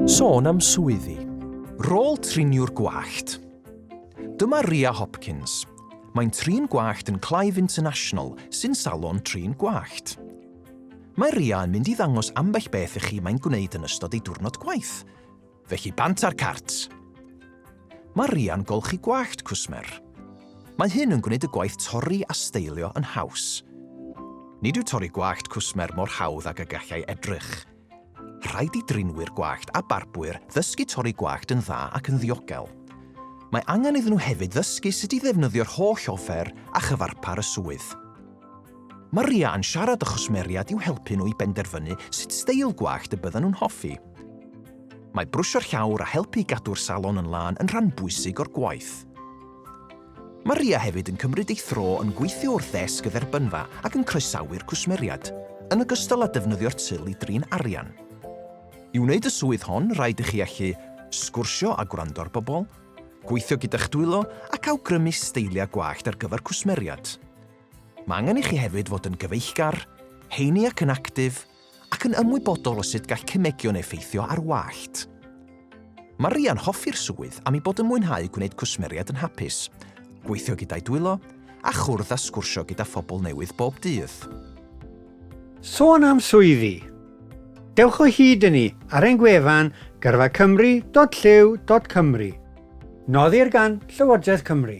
Sôn am swyddi. Rôl triniwr gwallt. Dyma Ria Hopkins. Mae'n trin gwallt yn Clive International, sy'n salon trin gwallt. Mae Ria yn mynd i ddangos ambell beth i chi mae'n gwneud yn ystod ei diwrnod gwaith. Felly bant ar cart! Mae Ria'n golchi gwallt cwsmer. Mae hyn yn gwneud y gwaith torri a steilio yn haws. Nid yw torri gwallt cwsmer mor hawdd ag y gallai edrych. Rhaid i drinwyr gwallt a barbwyr ddysgu torri gwallt yn dda ac yn ddiogel. Mae angen iddyn nhw hefyd ddysgu sut i ddefnyddio'r holl offer a chyfarpar y swydd. Mae Ria yn siarad â chwsmeriaid i'w helpu nhw i benderfynu sut steil gwallt y byddan nhw'n hoffi. Mae brwsio'r llawr a helpu i gadw'r salon yn lân yn rhan bwysig o'r gwaith. Mae Ria hefyd yn cymryd ei thro yn gweithio wrth ddesg y dderbynfa ac yn croesawu'r cwsmeriaid, yn ogystal â defnyddio'r til i drin arian. I wneud y swydd hon, rhaid i chi allu sgwrsio a gwrando ar bobl, gweithio gyda'ch dwylo ac awgrymu steiliau gwallt ar gyfer cwsmeriaid. Mae angen i chi hefyd fod yn gyfeillgar, heini ac yn actif, ac yn ymwybodol o sut gall cemegion effeithio ar wallt. Mae Rhia'n hoffi'r swydd am ei bod yn mwynhau gwneud cwsmeriaid yn hapus, gweithio gyda'i dwylo, a chwrdd a sgwrsio gyda phobl newydd bob dydd. Sôn am swyddi! Dewch o hyd i ni ar ein gwefan gyrfacymru.llyw.cymru, noddir gan Llywodraeth Cymru.